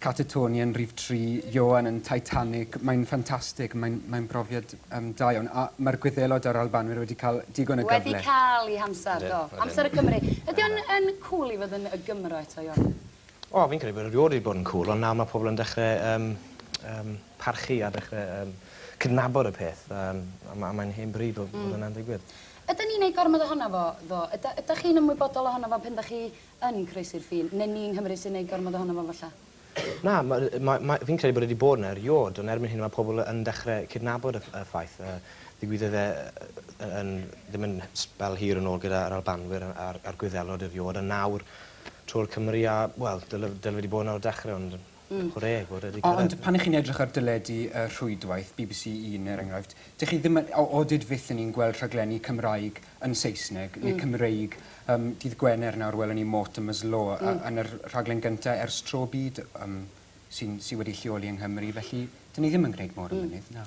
Catatoni yn rhif tri, Ioan yn Titanic, mae'n ffantastig, mae'n mae'n brofiad yym da iawn, a ma'r Gwyddelod a'r Albanwyr wedi cael digon o gyfle. Wedi cael eu hamser, do. Ydyn, ydyn. Amser y Cymry. Ydy o'n yn cŵl i fod yn y Gymro eto, Ioan? O, fi'n credu bod e rioed wedi bod yn cŵl, ond nawr mae pobl yn dechre yym yym parchu a dechre yym cydnabod y peth, yym a ma' a mae'n hen bryd bod bod hwnna'n digwydd. Ydyn ni'n neud gormod ohono fo, ddo? Yda- ydach chi'n ymwybodol ohono fo pen 'dach chi yn croesi'r ffin, neu ni yng Nghymru sy'n neud gormod ohono fo falla? Na, ma- ma- ma- fi'n credu bod e 'di bod 'na eriôd, ond erbyn hyn ma' pobl yn dechre cydnabod y y ffaith. Yy ddigwyddodd e yy yn ddim yn sbel hir yn ôl gyda yr Albanwyr a a'r a'r Gwyddelod eriôd, a nawr trwy'r Cymry a, wel, dyle dyle fe 'di bod 'na o'r dechre ond Mm. Hwre, bore 'di cyrraedd. Ond pan 'ych chi'n edrych ar deledu y rhwydwaith, bbc Un er enghraifft, dych chi ddim yn, o dyd fyth yn ni'n gweld rhaglenni Cymraeg yn Saesneg, neu Cymreig. Yym, dydd Gwener nawr welwn ni Mortimer's Law, a yn yr rhaglen gynta ers tro byd, yym, sy'n, sy wedi lleoli yng Nghymru, felly, 'dyn ni ddim yn gwneud mor ymynydd, na.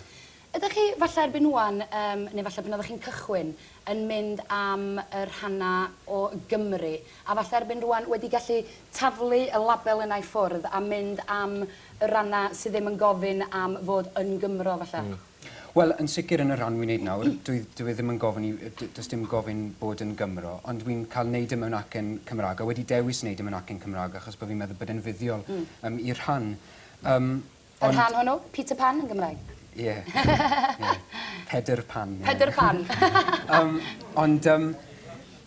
Ydych chi, falle erbyn ŵan, yym, neu falle pan oeddech chi'n cychwyn, yn mynd am y rhannau o Gymru, a falle erbyn rŵan wedi gallu taflu y label yna i ffwrdd a mynd am y rannau sydd ddim yn gofyn am fod yn Gymro, falle? Mm. Wel, yn sicr yn y rhan wi'n neud nawr, dwi, dyw e ddim yn gofyn i, d- does dim gofyn bod yn Gymro, ond wi'n cael neud e mewn acen Cymraeg, a wedi dewis neud e mewn acen Cymraeg achos bo' fi'n meddwl bod e'n fuddiol... Mm. ...yym i'r rhan. Yym. Yr rhan hwnnw? Peter Pan yn Gymraeg? Ie. Pedr Pan. Pedr Pan. Yym, ond yym,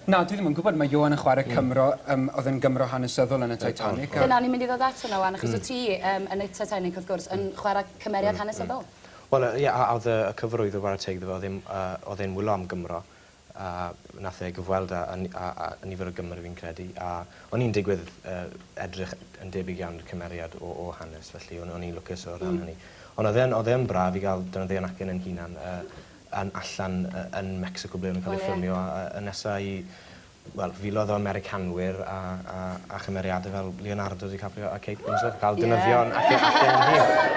na, dwi ddim yn gwybod, mae Ioan yn chwarae hmm. Cymro, um, oedd yn Gymro hanesyddol yn y Titanic. Dyna o'n i'n mynd i ddod at hwnna wan, achos hmm. o ti um, yn y Titanic, wrth gwrs, yn hmm. chwarae cymeriad hanesyddol. Wel, ie, a oedd y cyfrwyd o Wara Teg ddim, oedd e'n wylo am Gymro. a nath e gyfweld a a a nifer o Gymry fi'n credu a o'n i'n digwydd yy edrych yn debyg iawn i'r cymeriad o o hanes felly o'n o'n i'n lwcus o ran hynny. Ond odd e'n odd e yn braf i ga'l defnyddio yn acen yn hunan yy yn allan yy yn Mecsico ble o'n nw'n ca'l eu ffilmio a a a nesa i wel filodd o Americanwyr a a a chymeriade fel Leonardo DiCaprio a Kate Winslet yn ca'l defnyddio yn acen acen yn hir.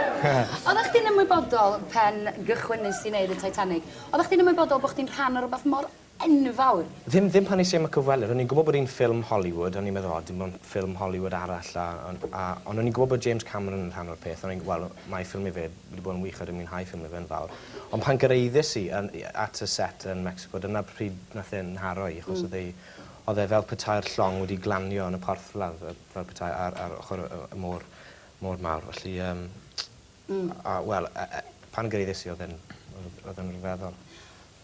Oddach chdi'n ymwybodol pen gychwynnes di neud y Titanic Oeddach chdi'n ymwybodol bod chdi'n rhan o rywbeth mor enfawr? Ddim, ddim pan es i am y cyfweliad. O'n i'n gwybod bod hi'n ffilm Hollywood, o'n i'n meddwl, o, dim ond ffilm Hollywood arall, a, a, a, ond o'n i'n gwybod bod James Cameron yn rhan o'r peth, o'n i'n, wel, mae ffilmio fe wedi bod yn wych a dwi'n mwynhau ffilmio fe yn fawr. Ond pan gyraeddes i yn, at y set yn Mexico, dyna pryd nath e 'nharo i, achos oedd ei, oedd e fel petai'r llong wedi glanio yn y porthladd, fel petai ar, ar ochr y, y môr, môr mawr, felly, yym, Hmm. A a wel yy yy pan geiries i odd e'n odd odd e'n ryfeddol.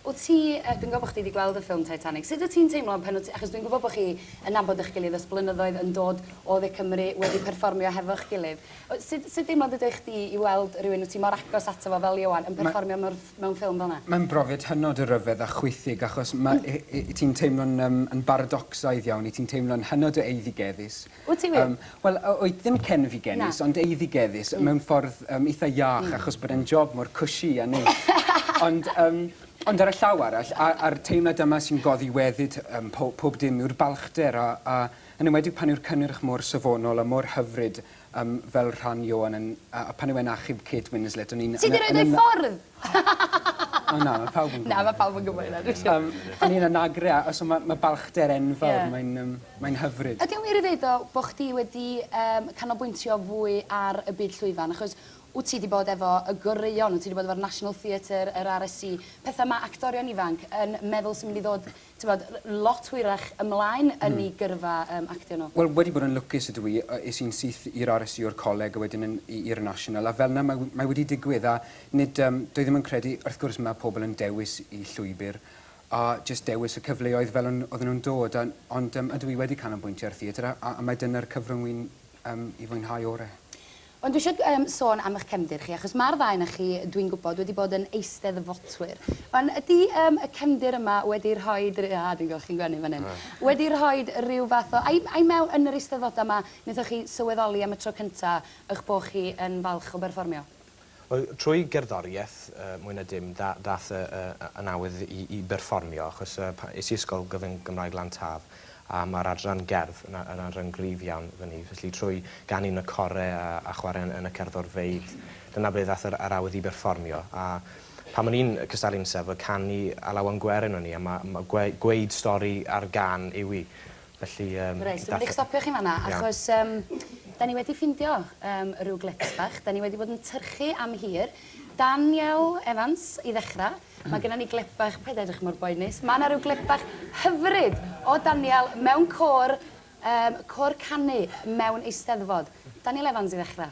Wt ti yy dwi'n gwel bo' chdi 'di gweld y ffilm Titanic sud wt ti'n teimlo pan wt ti achos dwi'n gwbo bo' chi yn nabod y'ch gilydd ers blynyddoedd yn dod o dde Cymru wedi perfformio hefo'ch gilydd o- sud sud deimlad ydi o i chdi i weld rywun wt ti mor agos ato fo fel Ioan yn perfformio mewn ff- mewn ffilm fel 'na? Mae'n brofiad hynod o ryfedd a chwithig achos ma' yy yy ti'n teimlo'n yym yn baradocsaidd iawn, 'yt ti'n teimlo'n hynod o eiddigeddus Wyt ti wir? Wel, oedd ddim cenfigenus, ond eiddigeddus, mewn ffordd eitha iach, achos bod e'n job mor cushy a neis. Ond, ond ar y llaw arall, a'r teimlad yma sy'n goddi weddid ym pob dim yw'r balchder, a a yn enwedig pan yw'r cynnyrch mor safonol a mor hyfryd fel rhan Ioan yn, a pan yw e'n achub Kate Winslet, o'n i'n... Ti 'di rhoid o i ffwrdd? O na ma' pawb yn gwbo. Na ma' pawb yn gwbo hynna dwi siwr. Yym o'n i'n anagre a so ma' ma' balchder enfawr. Ie. Mae'n yym mae'n hyfryd. Ydi o'n wir i ddeud tho bo' chdi wedi yym canolbwyntio fwy ar y byd llwyfan achos wt ti 'di bod efo y goreuon wt ti 'di bod efo'r National Theatre yr RSC petha ma' actorion ifanc yn meddwl sy'n mynd i ddod t'mod, lot hwyrach ymlaen yn 'u gyrfa yym actio nhw. Wel, wedi bod yn lwcus ydw i. Yy, es i'n syth i'r RSU o'r coleg a wedyn yn i i'r National, a fel 'na mae mae wedi digwydd, a nid yym... Dwi ddim yn credu... Wrth gwrs ma' pobl yn dewis 'u llwybr, a jyst dewis y cyfleoedd fel o'n oedden nhw'n dod, a ond yym ydw i wedi canolbwyntio ar theatr a a a mae dyna'r cyfrwng wi'n yym 'i fwynhau ore. Ond dwi isio yym sôn am 'ych cefndir chi, achos ma'r ddau o'na chi, dwi'n gwybod, wedi bod yn Eisteddfotwyr. Wan, ydi yym y cefndir yma wedi rhoid ry-... Ah, dwi'n gweld chi'n gwenu fan 'yn. Wedi rhoid ryw fath o... I I mewn yn yr Eisteddfodau 'ma, wnaethoch chi sylweddoli am y tro cynta 'ych bo' chi yn falch o berfformio? Wel, trwy gerddoriaeth mwy na dim ddaeth y nawydd i berfformio achos es i ysgol gyfun Gymraeg Lan Taf a mae'r adran gerdd yn adran gryf iawn fyny felly trwy ganu yn y core a chwarae yn y cerddorfeydd dyna ble ddaeth yr awydd i berfformio a pan o'n i'n cystadlu'n Steddfod canu Alaw am Gwerin o'n i a mae gweud stori ar gân yw i Felly yym... Reit dwi mynd i'ch stopio chi'n fan 'na achos yym 'dan ni wedi ffindio yym ryw glips bach 'dan ni wedi bod yn tyrchu am hir. Daniel Evans i ddechra ma' gynnon ni glip bach paid â edrych mor boenus ma' 'na ryw glip bach hyfryd o Daniel mewn côr yym côr canu mewn Eisteddfod. Daniel Evans i ddechra.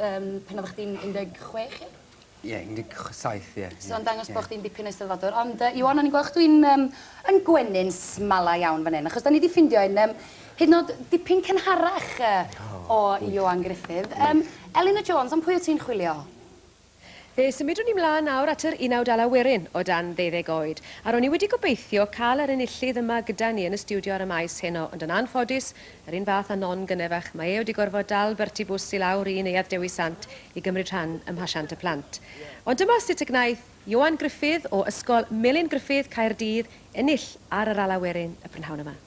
Yym pan oddach chdi'n un deg chwech ia? Ie un deg ch- saith ie. So yn dangos bo' chdi'n dipyn o Eisteddfodwr ond yy Iwan o'n i'n gwel' chdi'n yym yn gwenu'n smala iawn fan 'yn achos 'dan ni 'di ffindio un yym hyd yn o'd dipyn cynharach yy o Iwan Gruffydd. Yym Elin a Jones am pwy wt ti'n chwilio? Fe symudwn ni 'mlaen nawr at yr unawd ala werin, o dan ddeuddeg oed. A ro'n i wedi gobeithio cael yr enillydd yma gyda ni yn y stiwdio ar y maes heno, ond yn anffodus, yr un fath â Non Gynefach, mae e wedi gorfod dal Bertie Bws i lawr i Neuadd Dewi Sant i gymryd rhan ym Mhasiant y Plant. Ond dyma sut y gwnaeth Ioan Gruffydd o Ysgol Melin Gruffydd, Caerdydd, ennill ar yr ala werin y prynhawn yma.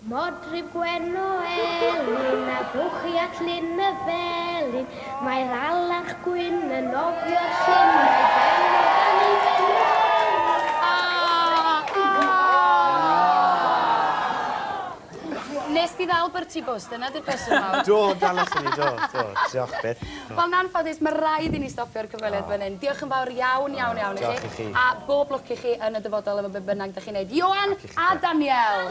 Modryb gwen o elyn a bwchi at lyn y felin, mae'r alarch gwyn yn nofio'r llyn, mae ben o dan ei ben. Nes di ddal Bertie Bws, dyna di'r cwestiwn mawr. Do, dallaswn i, do, do. Diolch, byth. Wel, yn anffodus, mae rhaid i ni stopio'r cyfweliad fan hyn. Diolch yn fawr iawn, iawn, iawn i chi. Diolch i chi. A bob lwc i chi yn y dyfodol efo be bynnag dych chi'n neud. Ioan! A Daniel!